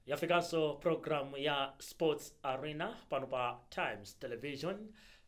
yafikanso programu ya sports arena pano pa times television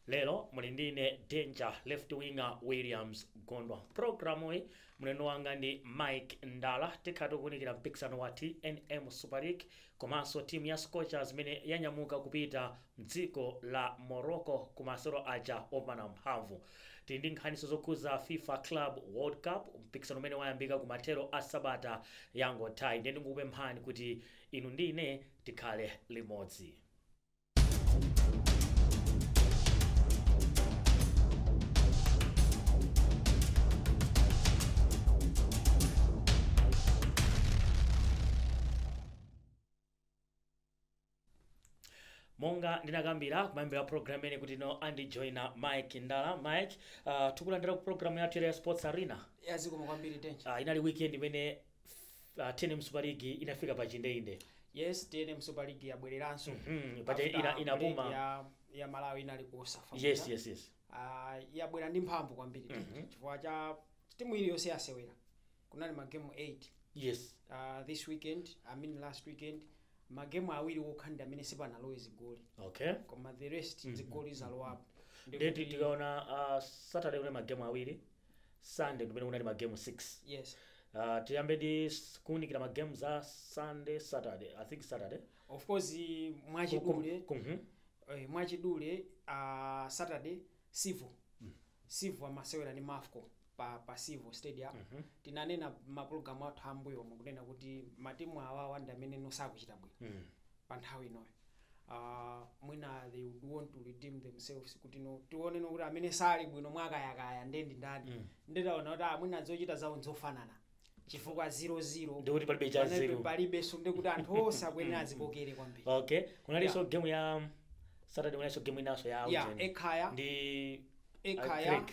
lero muli ndine danger left winger williams gondwa programuyi mlendo wanga ndi mike ndala tikhala tikuunikira mpikisano wa tnm super league Komanso timu ya Scorchers imene yanyamuka kupita mdziko la Morocco ku masewero aja opimana mphamvu. Tili ndi nkhaninso zokhuza fifa Club World Cup, mpikisano umene wayambika ku mathero a sabata yangothayi. Ndiye ndingokupemphani kuti inu ndi ine tikhale limodzi. monga ndinakambira kumayambiriro a program imene kuti ino andijoina mike ndala mike uh, tikulandira ku program yathu ya sports arena ya zikomo kwambiri danger uh, inali weekend imene F- ah, tnm super league inafika pa chindeinde yes tnm super league yabwereranso Mhm, paja After ina- inapuma. break ya, ya malawi inali ku cosafa yes yes yes Ah, yabwera ndi mphamvu kwambiri Mhm. chifukwa cha timu iliyonse yasewera kunali magemu 8 yes uh, this weekend i mean last weekend magemu awiri okha ndi amene sipanalowe zigoli okay koma the rest Mhm. zigoli zalowapo Ndi ndeti kuti- tikaona ah, saturday kunali magemu awiri sunday ndimene kunali ma game 6 yes uh, tiyambe ndi s- kuunikira ma game za sunday saturday i think saturday of course mwachidule Kum- kum- mhm. eh, mwachidule uh, saturday civo civo amasewera ndi mafco pa, pa civo stadium Mhm. tinanena m'mapulogalamu athu ambuyomo kunena kuti matimu awawa ndi amene nosakuchita bwino Mm. pa nthawi inoyo uh, mwina they would want to redeem themselves kuti no tioneno kuti amene sali bwino mwakayakaya nde ndi ndani mm. nde taona kuti amwina zochita zawo nzofanana chifukwa 00 Ndikuti palibe cha Palibe- zero. palibe so ndekuti anthu onse akuyenera azipokere kwambiri okay kunalinso Yeah. game ya saturday kunalinso game inanso ya ya Ujeni. ekhaya ndi ekhaya Creek.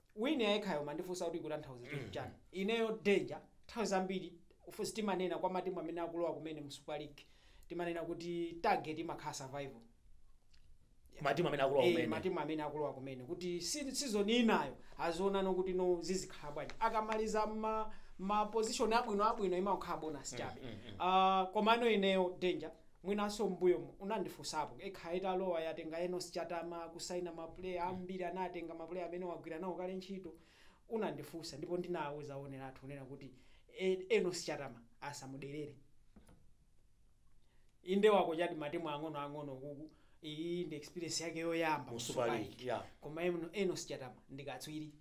wini ya ekhaya mmandifunsa kuti ikutanthauza chinthu chani ineyo danger nthawi zambiri of- sitimanena kwa matimu amene akulowa kumene mu super league timanena kuti target imakhala survival matimu amene akulowa Eh, kumene matimu amene akulowa kumene kuti si- season inayo azionano kuti no zizikhala bwanji akamaliza ma, ma position abwino abwino imakhala bonus chabe Ah, komano ineyo danger mwinanso mmbuyomu unandifusapo Ekhaya italowa yatenga Enos chatama kusaina ma player ambiri anatenga ma player amene wagwira nawo kale ntchito unandifusa ndipo ndinauza onerathu kunena kuti Enos chatama asamuderere inde wakochati matimu ang'ono ang'ono kuku iyi ndi experience yake yoyamba mu super league koma Enos chatama ndikatswiri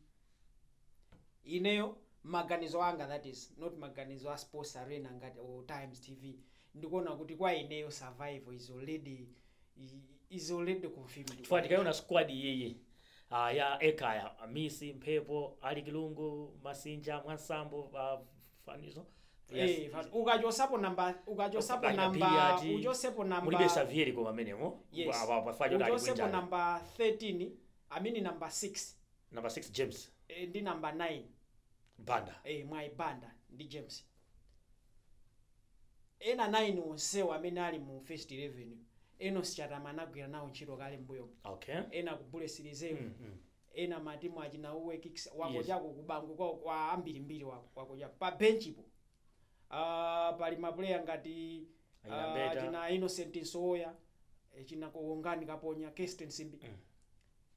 ineyo maganizo anga that is not maganizo a sports arena ngati or times tv ndikuona kuti kwa ineyo survival is already is already confirmed chifukwa tikaona squad iyiyi ah, ya Ekhaya Amisi mphepo Alick Lungu masinja mwansambo ah, fanizo Eh, fa- ukachosapo namba ukachosapo Ukaja namba Billiard, uchosepo namba mulibe Xavier koma amenemo Yes. ukachosapo namba 13 I mean namba 6 Number 6 James. Eh, ndi number 9 Banda. eh, mwayi banda ndi james ena 9 onsewo amene ali mu first 11 enos chatama anagwira nawo ntchito kale mbuyo Okay. ena ku bullets reserve Mm, mm. ena matimu achina uwe kicks wako Yes. chako kubanko kwa, kwa ambirimbiri wako wako chako pa benchipo uh, pali mapuleya ngati Achina uh, Beta. china innocent msowoya eh, china khongani kaponya kesten simbi Mm.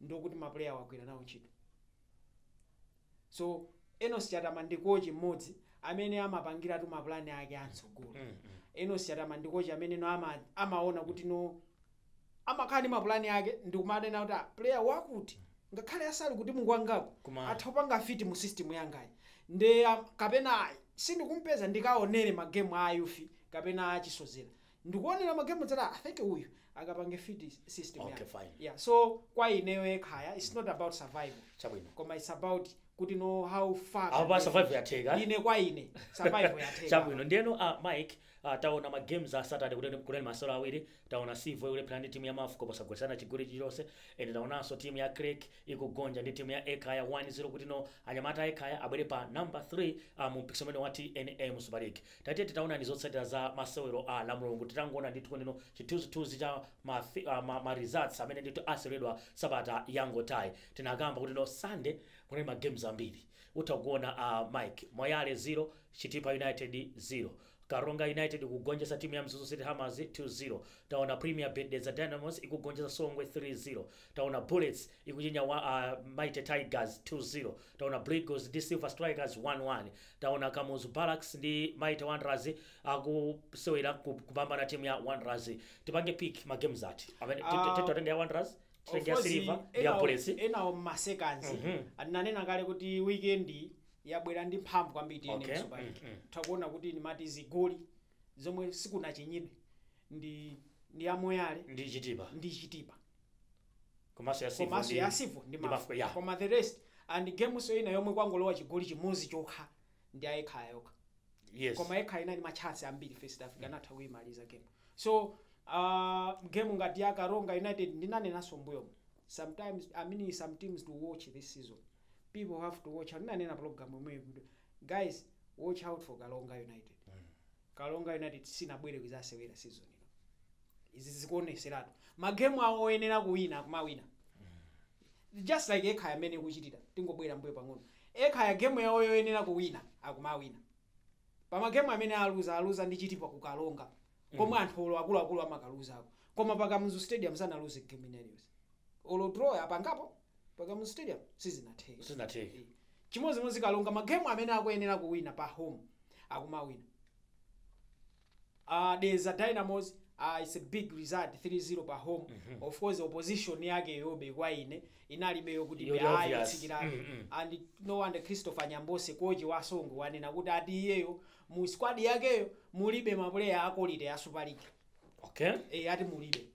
ndikuti ma player wagwira nawo ntchito so enos chatama ndi kochi mmodzi amene amapangiratu mapulani ake amtsogolo enos chatama ndi kochi amene no ama, amaona kuti no amakhala ndi mapulani ake ndikumanena kuti ah, player wakuti ngakhale ali kuti mu ligi ngako Koma- atha kupanga fiti mu system yangayi nde ah, kapena ayi sindikumpeza ndikaonere magemu a ayufi kapena achisozera Ndikuonera ma game ndidzati I think uyu akapange fit system okay, yake fine. yeah so kwa ineyo yekhaya it's not about survival Chabwino. koma it's about kuti know how far Apa can pa I survival reach. yatheka. ine kwa ine survival yatheka chabwino ndiyeno uh, mike uh, taona ma games a saturday kuti kunali masewero awiri taona sivo ikulepherana ndi timu ya mafco posagwetsana chigoli chilichonse and taonanso timu ya creck ikugonja ndi timu ya Ekhaya 1-0 kuti no anyamata a Ekhaya abwere pa number 3 uh, mu mpikisano umenewu wa tnm super league Tatiyeni tione zotsatira za masewero a lamulungu titangoona ndithu kuneno chithunzithunzi cha ma fi a ma ma results amene ndithu aseweredwa sabata yangothayi tinakamba kutino sunday kunali ma games ambiri utha kuona a mike moyale 0 chitipa united 0 karonga united ikugonjesa timu ya mzuzu city hammers 2 0 taona premier bet dedza dynamos ikugonjesa songwe 3 0 Taona Bullets ikuchinya Mighty Tigers 2 0. Taona Blue Eagles ndi Silver Strikers 1 1. Taona Kamuzu Barracks ndi Mighty Wanderers akusewera ku- kupambana timu ya Wanderers. Tipange pick ma games ati. Amene Ah, tito- titenge ya Wanderers, titenge ya Silver, ndi ya Bullets. enawo mmasekanzi Mhm. ananena kale kuti weekend yabwera ndi mphamvu kwambiri Okay. tnm super league Mhm. utha kuona kuti ndimati zigoli zomwe sikunachinyidwe ndi ya moyale ndi chitipa komanso ya silver komanso ndi- ya silver ndi ndi mafco mafco, yeah. koma the rest and gemunso ina yomwe kwangolowa chigoli chimodzi chokha ndi ya ekhaya yokha yes koma ekhaya inali matchansi ambiri first half akanatha kuyimaliza game so uh, game ngati ya karonga united ndinanenanso mmbuyomo sometimes i mean some teams to watch this season people have to watch ndinanena program imwe guys watch out for karonga united karonga united sinabwere kuzasewera season ino izi zikuoneseratu magemu awo oyenera kuwina kumawina just like ekhaya amene ikuchitira tikangobwerera mbuyo pang'ono ekhaya gemu yawo yoyenera kuwina akumawina pamagemu amene aluza aluza ndi chitipa kukaronga komwe anthu olo akuluakulu amakaluzako koma pa kamuzu stadium sanaluze gemu ina iliyonse olo draw apangapo pa kamuzu stadium sizinatheke Sizinatheke. Eh, chimodzimodzi karonga magemu amene akuyenera kuwina pa home akumawina uh, dedza dynamos uh, its a big result 3-0 pa home of course opposition yakeyobe kwa ine inalibe yokuti ayi yotsikirabe Mm, mm. and no wonder christopher nyambose kochi wa songwe wanena kuti ati iyeyo mu squad yakeyo mulibe mapuleya a quality ya super league okay e, ati mulibe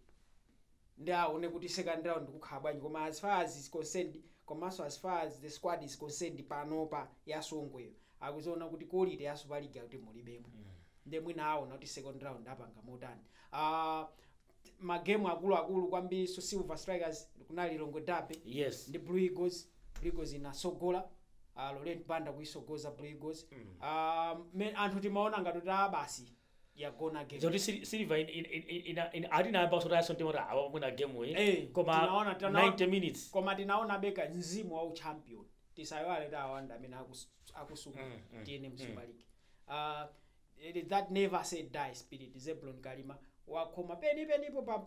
nde awone kuti second round kukhala bwanji koma as far as is concerned komanso as far as the squad is concerned panopa ya songweyo akuziona kuti quality ya super league akuti mulibemo nde mwina aona kuti second round apanga motani uh, magemu akuluakulu kwambiri so silver strikers kunali lilongwe derby yes ndi blue eagles blue eagles inatsogola uh, laurent banda kuitsogoza blue eagles mm. uh, anthu timaona ngati kuti ah, basi yagona game zoti Sil- silver in- in- in- in- ina- ina- atinayamba sotayaso mtima kuti awa mwina game iyi Eh, koma tinaona- tinaona- 90 minutes koma tinaona be ka mzimu wa uchampion tisaiwale kuti awa nda amene akus- akusunga Mm, mm, TNM super league uh, it is that never say die spirit zebron kalima wakhoma penipenipo paja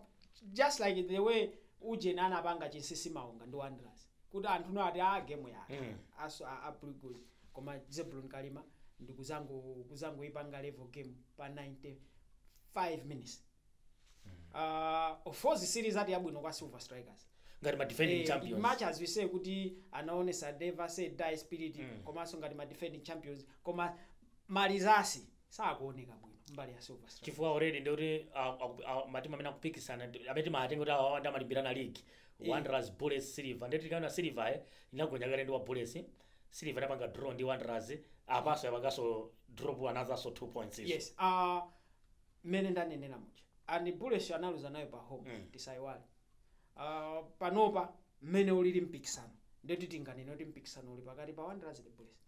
just like the way ujeni anapanga chinsisi maonga ndi wanderers kuti anthu onse ati a game yatha Mm. apanso a, a Blue Eagles koma Zebron Kalima ndi kuzango kuzangoipanga level game pa 95 minutes uh, of course si rizati yabwino kwa Silver Strikers ngati ma defending Eh, champions much as we say kuti anaonesa never say die spirit Mm. komanso ngati ma defending champions koma marizatsi sakuoneka bwino mbali ya silver strikers chifukwa already ndikuti matimu amene akupikisana ndi- amene timatenga kuti awa nda amalimbirana league Eh. wanderers bullets silver ndikuti tikaona silver eh, inagonja kale ndi bullets silver inapanga draw ndi wanderers apanso yapanganso drop anotherso two points izo. yes uh, mmene ndanenera muja and bullets analuza nayo pa home Mm. tisayiwale uh, panopa mmene ulili mpikisano ndeti tinganene kuti mpikisano uli pakati pa wanderers ndi bullets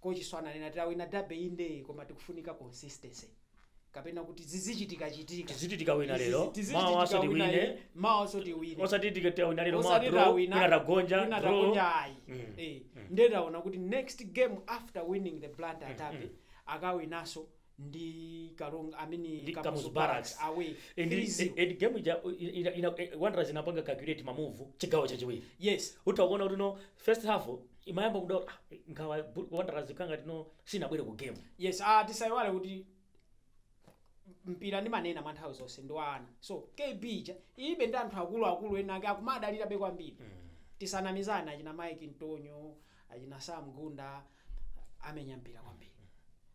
Kochiso ananena tawina derby indee koma tikufunika consistency kapena kuti zizichitikachitika Tizichitika wina lero, Izizi- tizichitika mawaso wina tiwine. iyi, mawaso tiwine osati tike- tawina lero osati mwadro tawina wina tagonja wina draw. tagonja ayi Mm. Eh, ndiye taona kuti next game after winning the blantyre derby akawinaso ndi karonga I mean ndi Kamuzu kamuzu barracks Barracks. away and, 3-0. and, and game ija ina, ina, eh, wanderers inapanga calculate mamuvu chigawo chachiwiri yes utha kuona kuti no first half imayamba kuda ah, nkhawa bu- wanderers ikanga tino sinabwere ku game yes ah, tisayiwale kuti mpira ndimanena mwa nthawi zonse ndi wa ana so kb ija ilibe ndi anthu akuluakulu ena ake akumadalirabe kwambiri tisanamizana achina mike ntonyo achina sam gunda amenya mpira kwambiri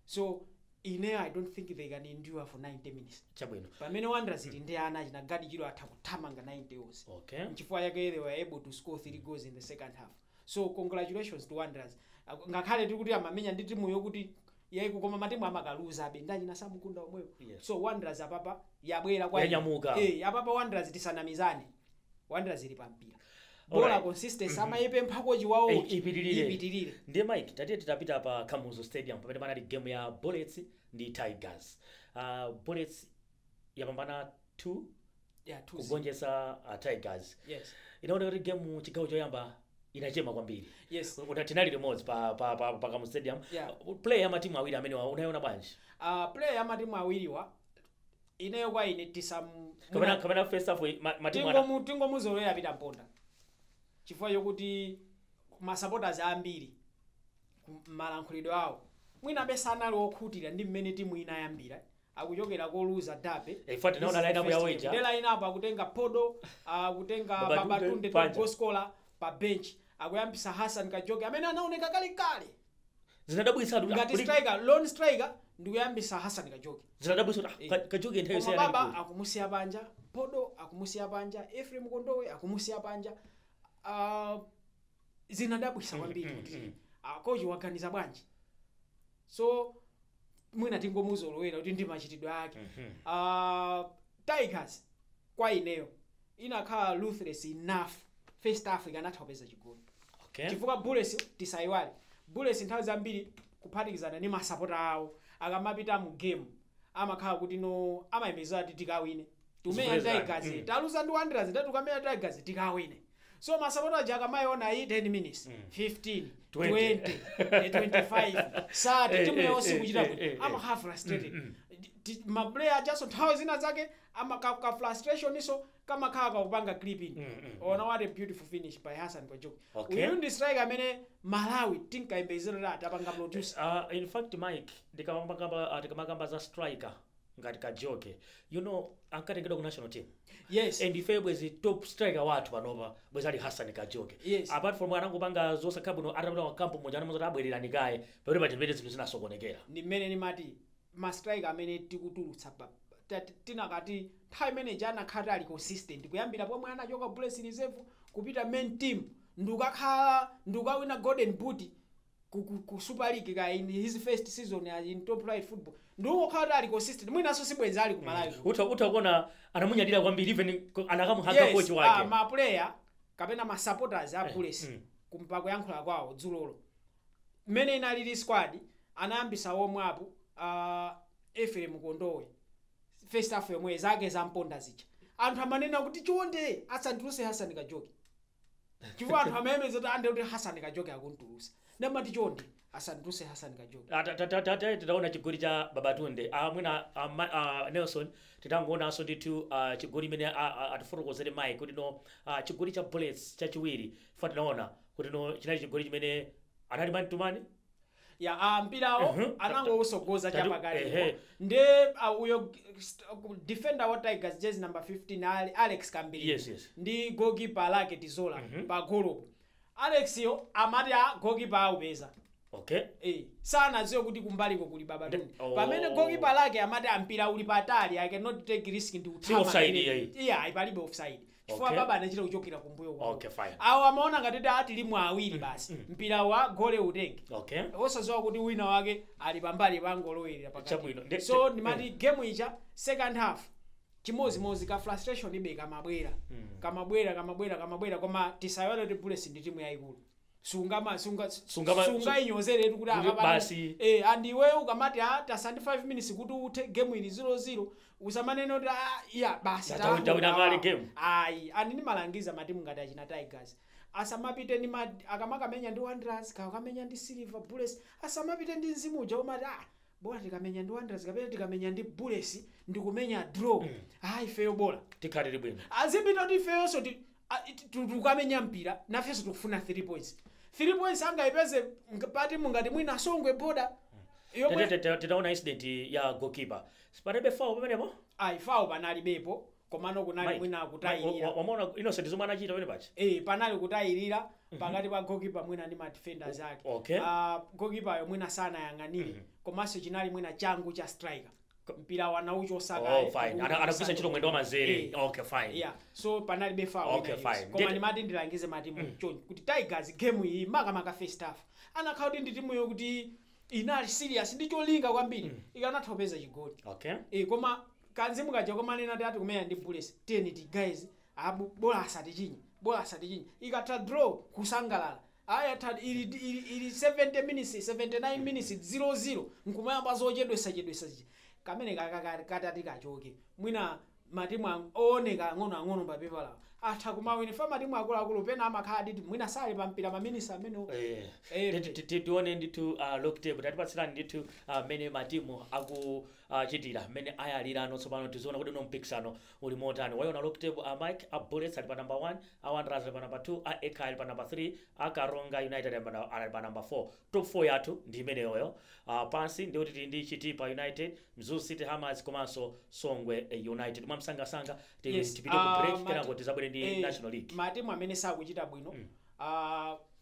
so ineyo i don't think they can endure for 90 minutes chabwino pamene wanderers ili ndi ana achina gaddie chirwa atha kuthamanga 90 onse okay nchifukwa chake they were able to score three goals in the second half so congratulations to wanderers Ak- ngakhale tiri kuti amamenya ndi timu yokuti ya weak koma matimu amakaluzabe ndi achina sam gunda omwewo Yes. so wanderers apapa yabwera kwa Yanyamuka. eh apapa wanderers tisanamizane wanderers ili pa mpira bola Alright. consistency amayipempha kochi wawo Eh, uchi, ipitirire. ipitirire ndiye mike tatiye titapita pa kamuzu stadium pamene panali game ya bullets ndi tigers uh, bullets yapambana 2 yeah, two zero. kugonjetsa uh, tigers yes inaoneka kuti game chigawo choyamba inachema kwambiri yes Kuti tinali limodzi pa, pa, pa, pa kamuzu stadium Yeah. Uh, play ya matimu awiri amenewa unayiona bwanji uh, play ya matimu awiriwa ineyo kwa ine tisam kapena mwina kapena first half eh, ma- matimu ana tingomu tingomuzolowera peter mponda chifukwa chokuti masupporters ambiri ku- malankhulidwe awo mwinabe sanali okhutira ndi mmene timu inayambira akuchokera koluza derby Eh, in fact, naona line up ya Wager. the line up akutenga phodo akutenga Babatunde, babatunde Panja. top goal scorer pa bench akuyambisa hassan kajoke amene anaoneka kalekale zinadabwitsa kuti- ngati kuti- striker lone striker ndikuyambisa hassan kajoke zinadabwitsa kuti, ah, Eh. Ka- kajoke nthawi koma baba yosiyana akumusiya panja phodo akumusiya panja ephraim kondowe akumusiya panja Ah, zinadabwisa kwambiri kuti ah, kochi waganiza bwanji so mwina tingomuzolowera kuti ndi machitidwe ake Ah, tigers kwa ineyo inakhala ruthless enough first half ikanatha kupeza chigoli okay chifukwa bullets tisayiwale bullets nthawi zambiri kuphatikizana ndi masapota awo akamapita mu game amakhala kuti no amayembezera kuti tikawine tumenya Zipulezani. tigers Mm. taluza ndi wanderers ndati tukamenya tigers tikawine so masapota aja akamayiona iyi 10 minutes 15 20 eh, 25 sati Eh, timu eh, yonse eh, kuchita eh, kuti eh, eh. amakhala frustrated Ti- maplayer ajanso nthawi zina zake Ama ka ka frustration nso kamakhala kakupanga clipping. Mm, mm, mm. Ona what a beautiful finish by Hassan Kajoke. Okay. Uyu ndi striker amene Malawi tinkayembekezera kuti atapanga produce. Uh, in fact Mike ndikamakamba uh, tikamakamba za striker ngati kajoke you know ankatengedwa ku national team Yes. and ife bwezi top striker wathu panopa bwezi ali hassan kajoke Yes. apart from anangopanga zosakhala bwino atapita wakampu muja anamuuza kuti abwererani kaye pamene pachipite zinthu zinasokonekera ndi mmene nimati ma striker amene tikutulutsa pa tinakati nthawi imene ija anakhala kuti ali consistent kuyambira pomwe anachoka Bullets Reserve kupita main team ndikukakhala ndikukawina golden boot ku, ku, ku Super League ka in his first season as in top flight football ndikukhala kuti ali consistent mwinanso sibwenzi ali ku Malawi kuno. utha utha kuona anamunyadira kwambiri even ko- anakamuhaga Yes, kochi ah, wake ma player kapena ma supporters a Bullets mm. kumva kuyankhula kwawo dzulolo mmene inalili squad anayambitsa omwe apo uh, Ephraim Kondowe first half yomwe zake za mponda zija anthu amanena kuti chonde asamutulutse Hassan Kajoke chifukwa anthu amayembekeza kuti ande kuti Hassan Kajoke akumutulutsa nde amati chonde asamutulutse Hassan Kajoke Ah, ta- ta- ta- ta- ta- titaona chigoli cha babatunde Ah, mwina ah, ma- ah, nelson titangoonanso ndithu ah, chigoli imene ah, ah, atifotokozere Mike kuti no ah, chigoli cha bullets chachiwiri Chifukwa tinaona kuti no chinali chigoli chimene anali man to man. Ya mpirawo Mhm. anangowusogoza Tatu- chapakati ehe. iwo. nde a, uyo g- st- ku- defender wa Tigers jersey number 15 ali Alex Kambilinya Yes, yes. ndi goalkeeper lake Tizola Mhm. pa golo Alex yo amati a goalkeeper aupeza Okay. Eh, sanadziwe kuti kumbaliko kuli babatunde Nde- oh. pamene goalkeeper lake amati a mpira uli patali i cannot take risk ndi Si offside iyayi. iyayi palibe offside chifukwa Okay. baba anachita kuchokera kumbuyo kwawo. Okay, fine. awo amaona ngati kuti ah tilimo awiri basi mpira wa goli utenge okay osadziwa kuti wina wake ali pambali pangolowerera Chabwino. Nde- pakati so nde- ndimati game ija second half chimozimozi ka frustration yobe kamabwera kamabwera kamabwera kamabwera koma tisaiwale kuti bullets ndi timu yayikulu sungama sunga Sungama- sungainyozeretu kuti kuti akapata basi. eh and iwe ukamati ah tatsala ndi 5 minutes kuti uthe game ili 00 usamanene kuti ah iyayi basi Tawi- tawaona tawina kale awa. game. ayi and ndimalangiza matimu ngati achina tigers asamapite ndi ma- akamakamenya ndi wanderers kakamenya ndi silver bullets asamapite ndi mzimu uja umati ah bora tikamenya ndi wanderers kapena tikamenya ndi bullets tikumenya draw ayi ifeyo bora tikhalire bwino azipita kuti ifeyonso ti a, it- tu- tukamenya mpira nafenso tikufuna 3 points 3 points angayipeze mk- pati mungati mwina asongwe boda yomwe Tete- tete- titaona incident ya goalkeeper sipanalibe foul pamenepo ayi foul panalibepo komano kunali Mike, mwina Mike, wa- wa- kutayirira wamaona innocent zomwe zinachitika pamene paja eh panali kutayirira pakati pa goalkeeper mwina ndi madefenders ake Okay. Ah, goalkeeper yo mwina sanayang'anire komanso chinali mwina changu cha striker K- mpira anauchosa Oh, kaye, fine. kugunda Ana- anagwiritsa ntchito mwendo wa manzere Eh. okay fine yeah so panalibe foul Okay, ina iliyonse. fine. koma Ndiyete- ndimati ndilangize matimu chonchi kuti tigers game iyi makamaka first half anakhala kuti ndi timu yokuti inali serious ndi cholinga kwambiri ikanatha kupeza chigoli okay Eh, koma kanzimu kaja komanena tati kumenya ndi bullets tiyeni ti guys bola asatichinye bola asatichinye ikatha draw kusangalala Aya tad ili ili ili 70 minutes 79 minutes 00 n'kumayamba zochedwesa chedwesa zija kameneka aka ka- katati kachoke mwina matimu ang- ooneka ang'ono ang'ono pa pepalawa atha kumawina chifukwa matimu akuluakulu pena amakhala kuti mwina sali pa mpira ma minutes amenewo Eh, Eh, titi- titi- tione ndithu uh, log table tatipatsirani ndithu ah, mmene matimu akuchitira mmene ayalirano tsopano tiziona kuti uno mpikisano Uli motani? Waiona log table? A Mike a Bullets ali pa number 1, a Wanderers ali pa number 2, a Ekhaya ali pa number 3, a Karonga United ali pa ali pa number 4. Top 4 yathu ndi imeneyoyo. Ah, pansi ndi kuti tili ndi Chitipa United, Mzuzu City Hammers komanso Songwe United. Mwamsangasanga ti- Yes, tipite ku ah, break mati- kenako tizabwere ndi eh, National League. matimu amene sakuchita bwino ah,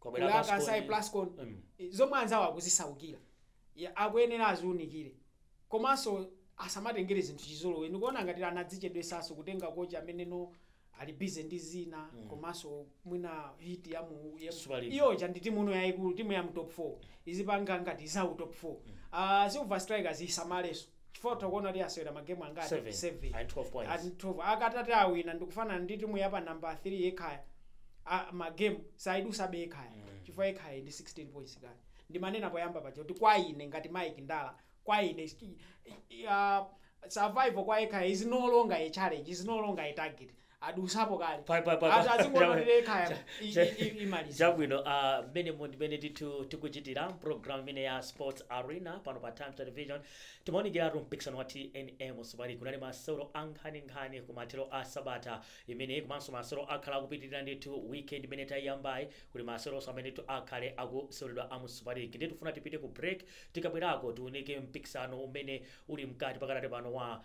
Kwabwera kwa Kansai Plascon. Kansai Plascon Mm. zomwe anzawo akuzisaukira Ya, akuyenera aziunikire komanso asamatengere zinthu chizolowe ndikuona ngati anadzichedwesaso kutenga kocha amene no ali bize ndi zina komanso mwina heat ya mu ya- Super League. iyo ija ndi timu ino yayikulu timu ya mu top 4 izipanga ngati za u top 4 uh, silver strikers isamalenso Chifukwa utha kuona kuti asewera ma game angati? 7, 7. ali ndi 12 points. Ali ndi 12. Akatati awina ndikufanana ndi timu ya pa number 3 ya Ekhaya. A, ma game saidusabe Ekhaya. Mm. Chifukwa Ekhaya ili ndi 16 points kale. Ndimanena poyamba paja kuti kwa ine ngati Mike Ndala, kwa ine sti- i- i- ah, survival kwa Ekhaya is no longer a challenge, is no longer a target. adusapo kale Pa- pa- pa- pa- ati azikuona kuti ekhaya Cha- i- cha- i- i- imaliza chabwino ah, mmenemo ndimene ndithu tikuchitira program imene ya sports arena pano pa times television timaunikiratu mpikisano wa tnm super league kunali masewero ankhaninkhani ku mathero a sabata imene komanso masewero akhala akupitirira ndithu weekend imene tayiyambayi kuli maseweronso amene tu akhale akuseweredwa a mu super league ndiye tifuna tipite ku break tikabwerako tiunike mpikisano umene uli mkati pakati pano wa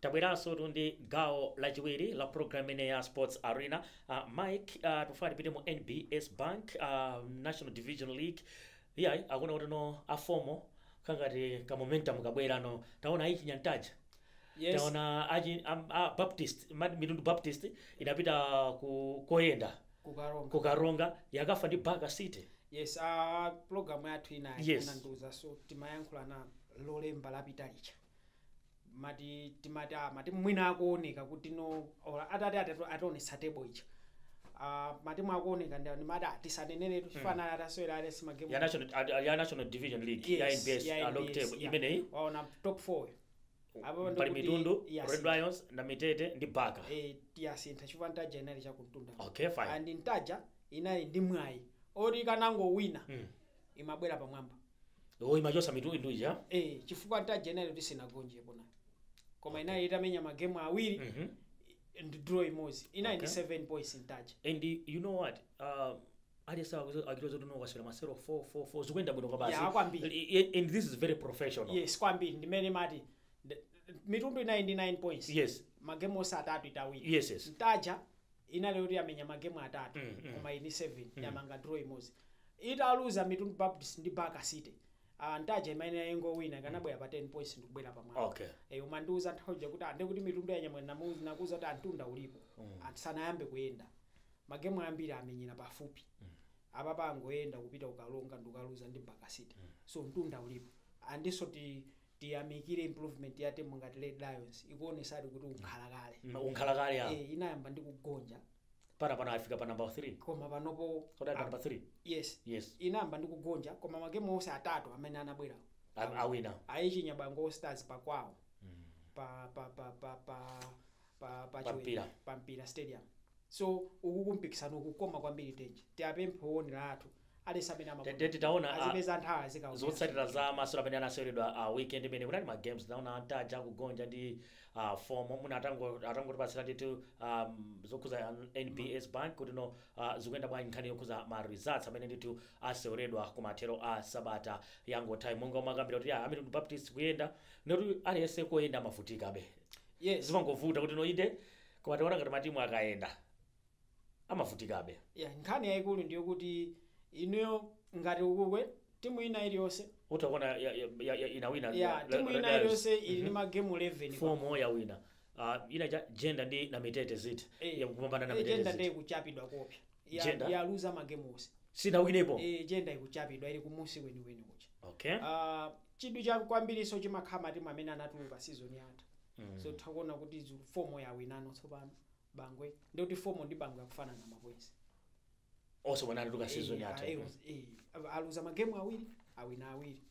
tabweransotu ndi gawo lachiwiri la program imene ya sports arena uh, mike uh, tufuna tipite mu nbs bank uh, national division league iyayi akuona kuti ano a FOMO kangati ka momentum kabwerano taona achinya Ntaja Yes. taona achinya a baptist ma- mitundu baptist inapita ku koyenda kukaronga ku karonga yakafa ndi baka city yes uh, program yathu inayo Yes. unandiuza so timayankhulana lolemba lapita lija mati timati ah, matimu mwina akuoneka kuti no or atati atatu- ationetsa table ija Ah, matimu akuoneka ndi ndi mwayi ah, tisaneneretu tifanana atasewera at least magemu ya national ah, ya national division league ya Yes, nbs ya ah, log NBS, table yeah. imeneyi waona top 4 Apo ndi pali kuti- mitundu yes. red lions Namitete ndi Baka eh, yasintha chifukwa ntaja inali chakuntunda okay fine and ntaja inali ndi mwayi oti ikanangowina Mm. imabwera pamwamba Iwo imachotsa Mitundu ija. Eh, chifukwa Ntaja inali kuti sinagonjepo nayo. Koma inali itamenya magemu awiri Mhm. ndi draw imodzi. Inali ndi Okay. 7 points Ntaja. And you know what? Uh, aliyense akuzo- akutoza kuti unongosewera masewero 4 4 4 zikuenda bwino kwa basi. Yeah, kwambiri. I- i- And this is very professional. Yes, kwambiri ndimene mati nd- Mitundu inali ndi 9 points. Yes. Magemu onse atatu itawina. Yes, yes. Ntaja inali yoti yamenya magemu atatu mm, mm. koma ili 7 mm. yamanga draw imodzi ikaluza Mitundu baptist ndi baka city Uh, ntaja imeneyi ikanangowina ikanabwera pa 10 points ndikubwera pamwamba okay. e, eh, umandiuza nthawi kuti and ah, kuti mitundu yanyamula ndakuuza kuti mtunda ulipo mm. sanayambe kuyenda magemu ambiri amenyera pafupi mm. apa angoyenda kupita ku Karonga n'kukaluza ndi baka city mm. so mtunda ulipo andinso ti tiyamikire improvement ya timu ngati red lions ikuonesadi kuti ndi mkhalakale Mm, mkhalakale ya Eh, inayamba ndi kugonja pano pano afika pa number 3 koma panopo kota number 3 yes yes inayamba ndi kugonja koma magemu onse atatu amene anabwera A- awina ayichinya Bangwe Stars pakwawo pa pa pa pa pa pa pa Pa mpira. chiwembu pa mpira stadium so uku mpikisano ukukoma kwambiri tenje tiwapemphe owonera athu at least amene Te- te- titaona, ah, azipeza nthawi azikaona zotsatira za masewero amene anaseweredwa a weekend imene kunali ma games tinaona a Ntaja akugonja ndi ah, fomo mwina mutango- mutangotipatsira ndithu um, zokhuza nbs bank kuti no ah, zikuyenda bwanji nkhani yokhuza ma results amene ndithu aseweredwa ku mathero a sabata yangothayi monga umakambira kuti ah, a Mitundu Baptist kuyenda no koma aliyense koyenda amavutikabe Yeah. zimangovuta kuti no inde koma taona ngati matimu akayenda amavutikabe Yeah, nkhani yayikulu ndiyo kuti ineyo ngati ukukwe timu ina iliyonse utakuona ya- ya- ya- ya- inawina yeah, la- timu la- ina la- iliyonse ili ndi magemu 11 pa- fomo yawina Ah, ina ja jenda ndi Namitete Zitha Eh, yakupambana Na- eh, mitete Jenda ndi Zitha kuchapidwa koopsa ya- Jenda? yaluza magemu onse sinawinepo Eh, jenda ikuchapidwa ili kumunsi kwenikweni kucha okay Ah, chidwi cha kwambiriso chimakhala matimu amene anatuluka sizoni yatha Mm. so takuona kuti zu- fomo yawinanso tsopano bangwe ndi kuti fomo ndi bangwe akufanana mapoinsi onsewa anatuluka season yatha Eh, eh, eh, aluza magemu awiri awina awiri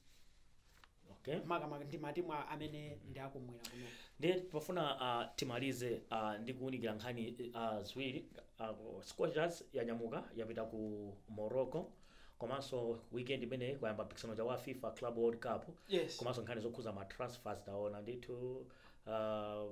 okay. makamaka ndi matimu a- amene ndi akumwera kuno ndiye pofuna uh, timalize uh, ndi kuwunikira nkhani uh, ziwiri uh, scorchers yanyamuka yapita ku morocco komanso weekend imeneyi kwayamba mpikisano uja wa fifa club world cup Yes. komanso nkhani zokhuza ma transfers taona ndithu uh,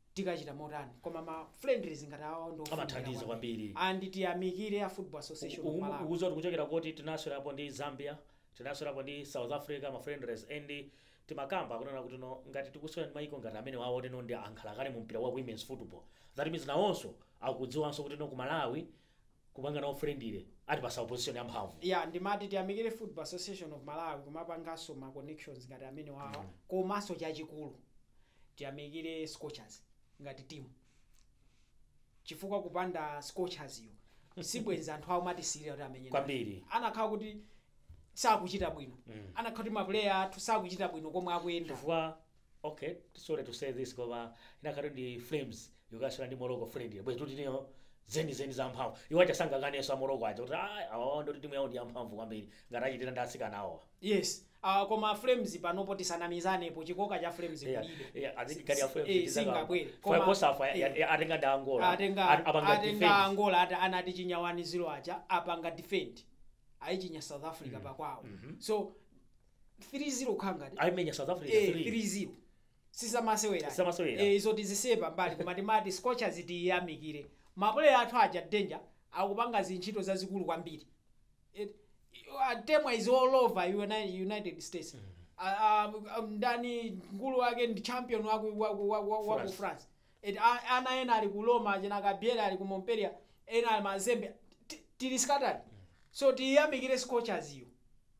tikachita motani koma ma friendlies ngati awa ndi ofunika Amathandiza kwambiri. and tiyamikire a football association of Malawi ukudziwa tikuchokera koti tinasewerapo ndi zambia tinasewerapo ndi south africa ma friendlies and timakamba kunena kuti no ngati tikusewera ndi mayiko ngati amenewawo teno ndi ankhalakale mu mpira wa women's football that means nawonso akudziwanso kuti no ku malawi kupanga nawo friendly atipatsa opposition yamphamvu ya ndimati tiyamikire football association of malawi kumapanganso ma connections ngati amenewawa komanso chachikulu tiyamikire scorchers ngati timu chifukwa kupanda scorchers-yo sibwenzi anthu awo amatisirira kuti amenye nawo. Kwambiri. anakhala kuti sakuchita bwino anakhala kuti mapuleya athu sakuchita bwino komwe akuyenda chifukwa ok sorry to say this koma inakhala ndi flames yokasewera ndi morocco friendly bwezi kuti tineyo zenizeni za mphamvu iwo aja sangakanenso a morocco aja kuti "Ah, awowo ndoti timu yawo ndi yamphamvu kwambiri ngati achitira ndi atsikana awowa yes uh, koma flames panopo tisanamizanepo chikoka cha flames Yeah, kulibe yeah, azikati ya Flames Eh, ndi zaka- singabwere. Fire Koma- Kosafa, ya- ya- ya- atenga ndi Angola. atenga At- apanga atenga defend. angola ati anati chinya wani zilo aja apanga defend ayichinya south africa pakwawo so 3-0 kukhala ngati aimenya south africa Eh, 3-0 sizamasewera Sizamasewera. Eh, izo tizisiye pambali koma timati scorchers tiyamikire mapuleya athu aja danger akupanga zintchito zazikulu kwambiri Eh, ah, temwa is all over Uni- united states Ah, ah, ah, ndani mkulu wake ndi champion waku, waku, waku, waku France. france et a ana ena ali ku Roma achina Gabriel ali ku Montpellier ena ali mazembe Ti- tili scattered so tiyamikire scorchers iyo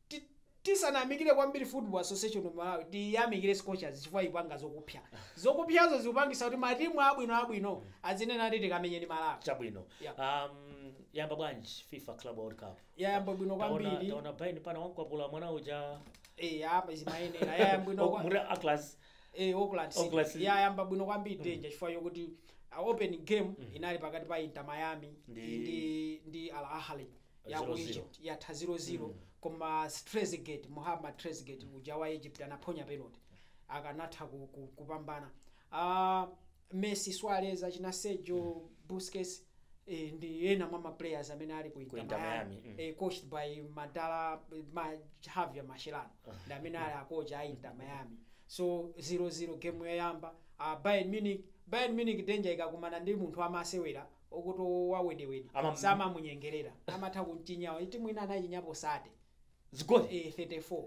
Ti- tisanamikire kwambiri football association of Malawi tiyamikire scorchers chifukwa ipanga zokupya zokupyazo zikupangisa kuti matimu abwino abwino azinena ati tikamenye ndi Malawi chabwino Yeah. um, yamba bwanji fifa club world cup yayamba bwino Taona- kwambiri taona Bayern pana wankwapula mwana uja eh apa zimayenera yayamba bwino Oh, kwa- Auckland eh, Auckland City. Auckland City. yayamba bwino kwambiri danger chifukwa chokuti uh, open game inali pakati pa Inter Miami ndi Ndi- ndi, ndi Al Ahly ya ku 0-0. Egypt yatha 0-0 koma Trezeguet Muhammad Trezeguet uja wa Egypt anaphonya penalty akanatha ku, ku, kupambana uh, Messi, Suarez, achina Sergio Busquets eh, ndi ena mwa ma players amene ali ku Inter Inter Miami, Miami, mm. eh, coached by Madala ma, Javier Mascherano ndi amene ali akocha a Inter Miami so 0-0 game yoyamba uh, Bayern Munich Bayern Munich danger ikakumana ndi munthu amasewera okuti wawedewede Ama- samamunyengerera amatha kumchinyawo timu ina anachinyapo sate zigoli eh, 34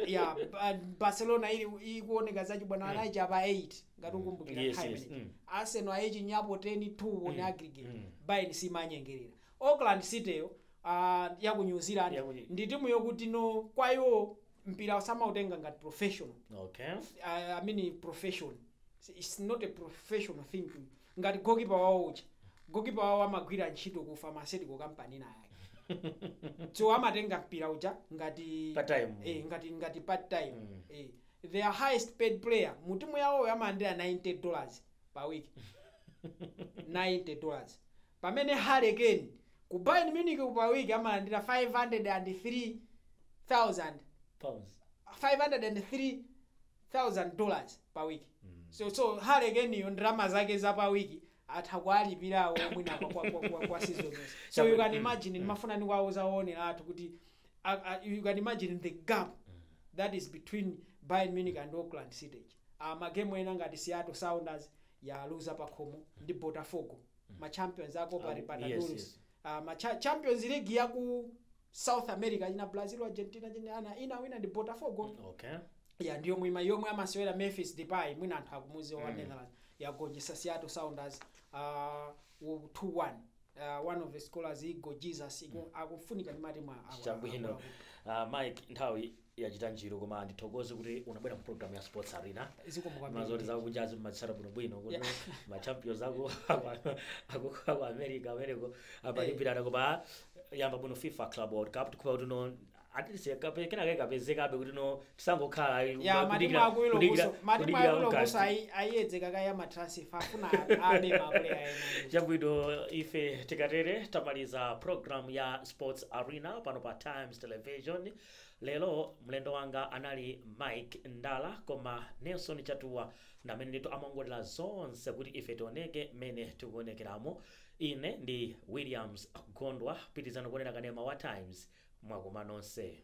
ya Ba- barcelona ili ikuoneka zachibwana anayichapa 8 ngati ukumbukira Yes, time yes, ineyi. mm. arsenal ayichinyapo 10 2 on aggregate mm. bayern simanyengerera auckland city yo ah, ya ku new zealand Ya ku- ndi timu yokuti no kwa iwo mpira samautenga ngati professional okay uh, I mean profession. It's not a professional thing ngati gokipa wawo uja gokipa wawo amagwira ntchito ku pharmaceutical company ina yake so amatenga mpira uja ngati Part time. eh, ngati ngati part time Mm. eh, their highest paid player mu timu yawoyo amalandira 90 dollars pa week 90 dollars pamene Harry Kane ku Bayern Munich pa week amalandira 503000 pounds 503000 thousand dollars pa week so so Harry Kane yo ndalama zake za pa week atha kuwalipira awo mwina kwa, kwa, kwa, kwa, kwa season yonse so you can imagine ndimafuna ndikuwauza woonera athu kuti uh, uh, you can imagine the gap that is between Bayern Munich and Auckland City uh, magemu ena ngati Seattle Sounders yaluza pakhomo ndi Botafogo ma champions a Copa Ah, Libertadores yes, yes. uh, ma cha champions league yaku south america china brazil argentina china ana inawina ndi botafogo okay ya ndi yomwe yomwe amasewera memphis depay mwina anthu akumuziwa wa netherlands yagonjesa seattle sounders uh, 2-1 uh, one of the scorers igor jesus iku- akufunika ndi matimu a- a- chabwino uh, mike nthawi yachita njiru koma ndithokoze kuti unabwera mu program ya sports arena zikomo kwambiri mazoti zakunjazi mumazitsata bwino bwino kuti machampions aku aku- aku america ameneko apalipirana koma yamba bwino fifa club world cup tikhupa kuti no at least kenaka kapezekabe kuti no tisangokhala ayi, ya matimu kudikira- akulu kudikira- kuso matimu kudikira akulu August. kuso ayi- ayedzeka kaya ma transfer afuna abe ma player ayi chabwino ife tikatere tamaliza program ya sports arena pano pa times television Lero mlendo wanga anali Mike Ndala koma Nelson Chatuwa ndi amene ndithu amaongolera zonse kuti ife tioneke mmene tikuonekeramu. Ine ndi Williams Gondwa. Pitirizani kuonera kanema wa Times. Mwakoma nonse.